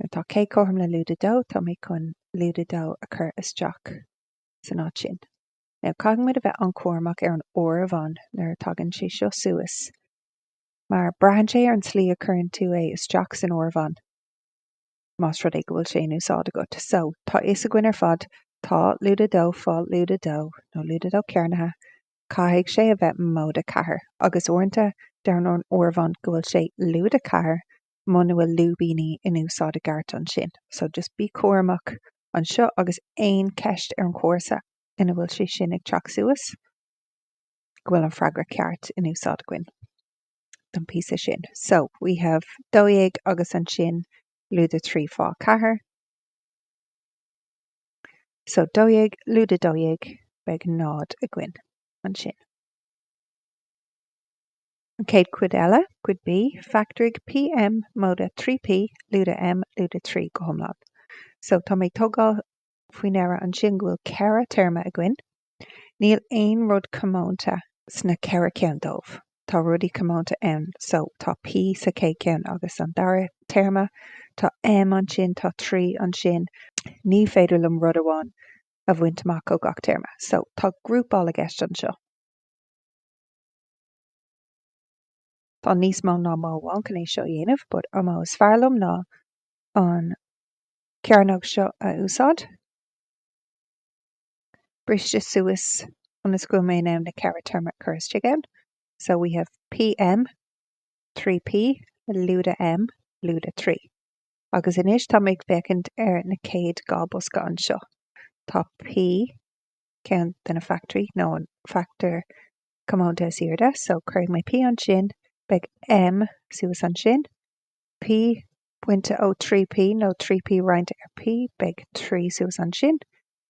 Nuair atá cé cothrom le lúide dó, tá mé chun lúide dó a chur isteach san áit sin. Now, caithfidh muid a bheith an-chúramach ar an áireamhán nuair a tagann sé seo suas, mar braitheann sé ar an tslí a chuireann tú é isteach san áireamhán, más rud é go bhfuil sé in úsáid agat. So, tá a fhios againn ar fad, tá lúide dó, fá lúide dó, nó lúide dó cearnaithe, caithfidh sé a bheith móide ceathair, agus uaireanta, deireann an áireamhán go bhfuil sé lúide ceathair, muna bhfuil lúibíní in úsáid i gceart ansin. So just bí cúramach anseo agus aon ceist ar an chúrsa ina bhfuil sé sin ag teacht suas go bhfuil an freagra ceart in úsáid againn don píosa sin. So we have dó dhéag agus ansin lúide trí fá ceathair. So dó dhéag lúide dó dhéag beidh náid againn ansin. An chéad chuid eile, Cuid B, Fachtóirigh P M móide 3 P lúide M lúide 3 go hiomlán. So, tá mé ag tógáil faoi deara ansin go bhfuil ceithre téarma againn. Níl aon rud comónta sna ceithre ceann díobh. Tá rudaí comónta ann. So, tá P sa chéad ceann agus an dara téarma, tá M ansin, tá 3 ansin. Ní féidir liom rud amháin a bhaint amach ó gach téarma. So, tá grúpáil i gceist anseo. Tá níos mó ná modh amháin chun é seo a dhéanamh but an modh is fearr liom ná an cearnóg seo a úsáid, briste suas ionas go bhfuil mé in ann na ceithre téarma a chur istigh ann. So we have PM, 3P, lúide M, lúide 3. Agus anois tá mé ag féachaint ar na chéad dhá bosca anseo. Tá P. ceann de na fachtóirí nó an fachtóir comónta is airde so cuirfidh mé P ansin, beidh M suas ansin, P bainte ó 3P nó 3P roinnte ar P, beidh 3 suas ansin,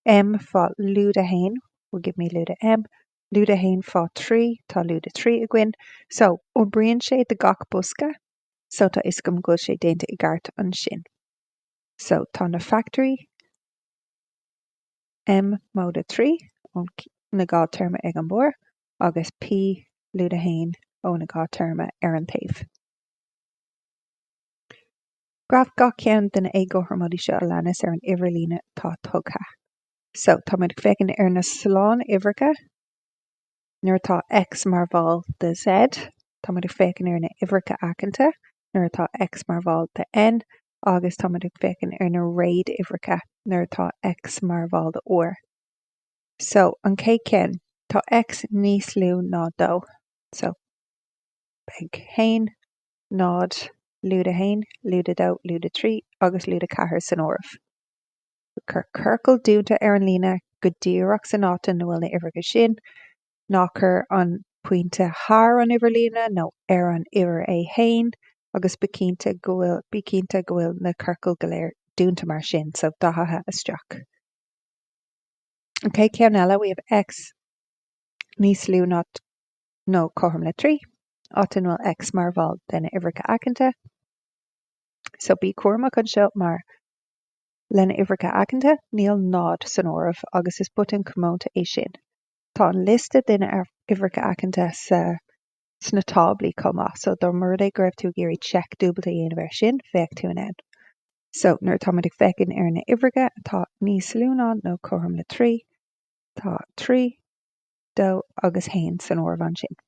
M fá lúide 1 will give me lúide M, lúide 1 fá 3 tá lúide 3 againn so oibríonn sé do gach bosca so tá a fhios agam go bhfuil sé déanta i gceart ansin. So tá na fachtóirí. M, móide 3, ó na dhá téarma ag an barr, agus P, lúide 1, ó na dhá téarma ar an taobh. Graf gach ceann de na éagothromailí seo a leanas ar an uimhirlíne atá tugtha. So, táimid ag féachaint ar na slánuimhreacha. Nuair atá X mar bhall de Z, tá muid ag féachaint ar na uimhreacha aiceanta, nuair atá X mar bhall de N, agus tá muid ag féachaint ar na réaduimhreacha, nuair atá X mar bhall de R. So, an chéad cheann, tá X níos lú ná 2. So, beidh 1, 0, lúide 1, lúide 2, lúide 3, agus lúide 4 san áireamh. Cuir ciorcal dúnta ar an líne go díreach san áit ina bhfuil na uimhreacha sin. Ná cuir an pointe thar an uimhirlíne nó ar an uimhir é fhéin agus bí cinnte go bhfuil na ciorcail go léir dúnta mar sin so dathaithe isteach. OK, ceann eile, we have X níos lú ná nó cothrom le 3, áit ina bhfuil X mar bhall de na uimhreacha aiceanta. So bí cúramach anseo mar Le na uimhreacha aiceanta, níl 0 san áireamh agus is botún comónta é sin. Tá an liosta de na uimhreacha aiceanta sa sna táblaí chomh maith so dá mba rud é go raibh tú ag iarraidh check dúbailte a dhéanamh air sin, bheadh tú in ann. So, nuair atáimid ag féachaint ar na uimhreacha atá níos lú ná nó cothrom le 3, tá 3, 2 agus 1 san áireamh ansin.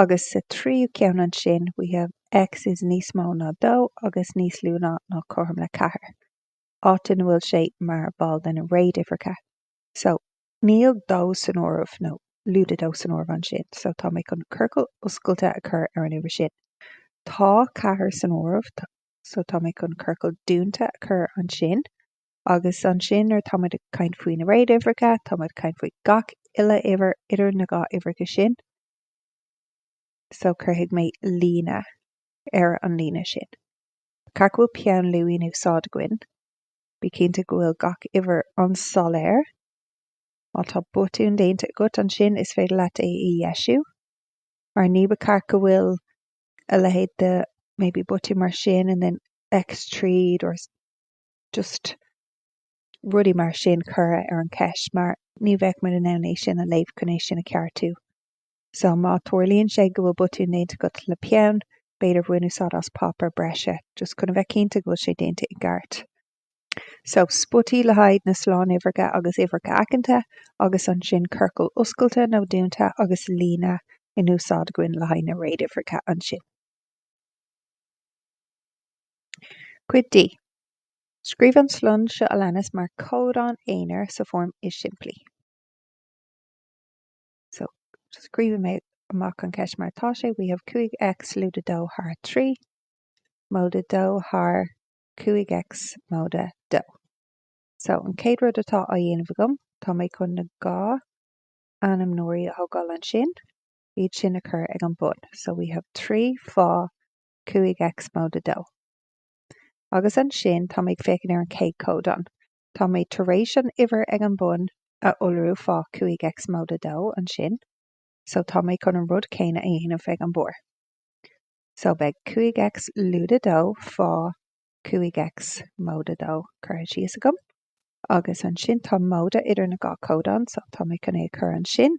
Agus sa tríú ceann ansin we have X is níos mó ná dó agus níos lú ná nó cothrom le ceathair. Áit ina bhfuil sé mar bhall de na réaduimhreacha. So, níl dó san áireamh nó lúide dó san áireamh ansin. So, tá mé chun ciorcal oscailte a chur ar an uimhir sin. Tá ceathair san áireamh so tá mé chun ciorcal dúnta a chur ansin. Agus ansin nuair atá muid ag caint faoi na réaduimhreacha, tá muid ag caint faoi gach uile uimhir idir na dhá uimhreacha sin. So cuirfidh mé líne ar an líne sin. Ba cheart go bhfuil peann luaidhe in úsáid againn. Bí cinnte go bhfuil gach uimhir an-soiléir. Má tá botún déanta agat ansin is féidir leat é a dheisiú. Mar ní ba cheart go bhfuil a leithéid de maybe botún mar sin and then X tríd or just rudaí mar sin curtha ar an cheist mar ní bheadh muid in ann é sin a léamh chun é sin a cheartú. So má tharlaíonn sé go bhfuil botún déanta agat le peann, b'fhéidir bhain úsáid as páipéar breise just chun a bheith cinnte go bhfuil sé déanta i gceart. So spotaí le haghaidh na slánuimhreacha agus uimhreacha aiceanta agus ansin ciorcal oscailte nó dúnta agus líne in úsáid againn le haghaidh na réaduimhreacha ansin. Cuid D, Scríobh an slonn seo a leanas mar codán aonair sa fhoirm is simplí. So, scríobhfaidh mé amach an ceist mar atá sé, we have 5X lúide 2 thar 3 móide 2 thar 5X móide 2. So, an chéad rud atá á dhéanamh agam, tá mé chun na dhá ainmneoirí a thógáil ansin, iad sin a chur ag an bun so we have 3 fá 5x móide 2. Agus ansin tá mé ag féachaint ar an chéad codán. Tá mé tar éis an uimhir ag an bun a iolrú fá 5x móide 2 ansin so tá mé chun an rud céanna a dhéanamh ag an barr. So beidh 5x lúide 2 fá 5x móide 2 curtha síos agam agus ansin tá móide idir na dhá codán so tá mé chun é a chur ansin.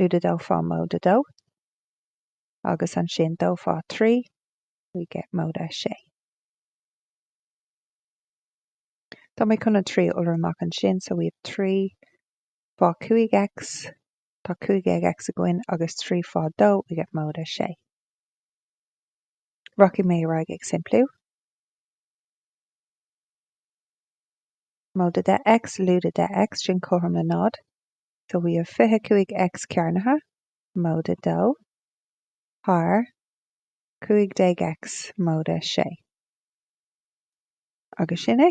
lúide dó fá móide dó agus ansin dó fá trí we get móide sé. Tá mé chun an trí a iolrú amach ansin so we have trí fá cúig X tá cúig déag X againn agus trí fá dó we get móide sé. Rachaidh mé ar aghaidh ag simpliú. Móide deich X lúide deich X sin cothrom le náid. So we have 25 X cearnaithe, móide dó, thar 15X móide sé. Agus sin é.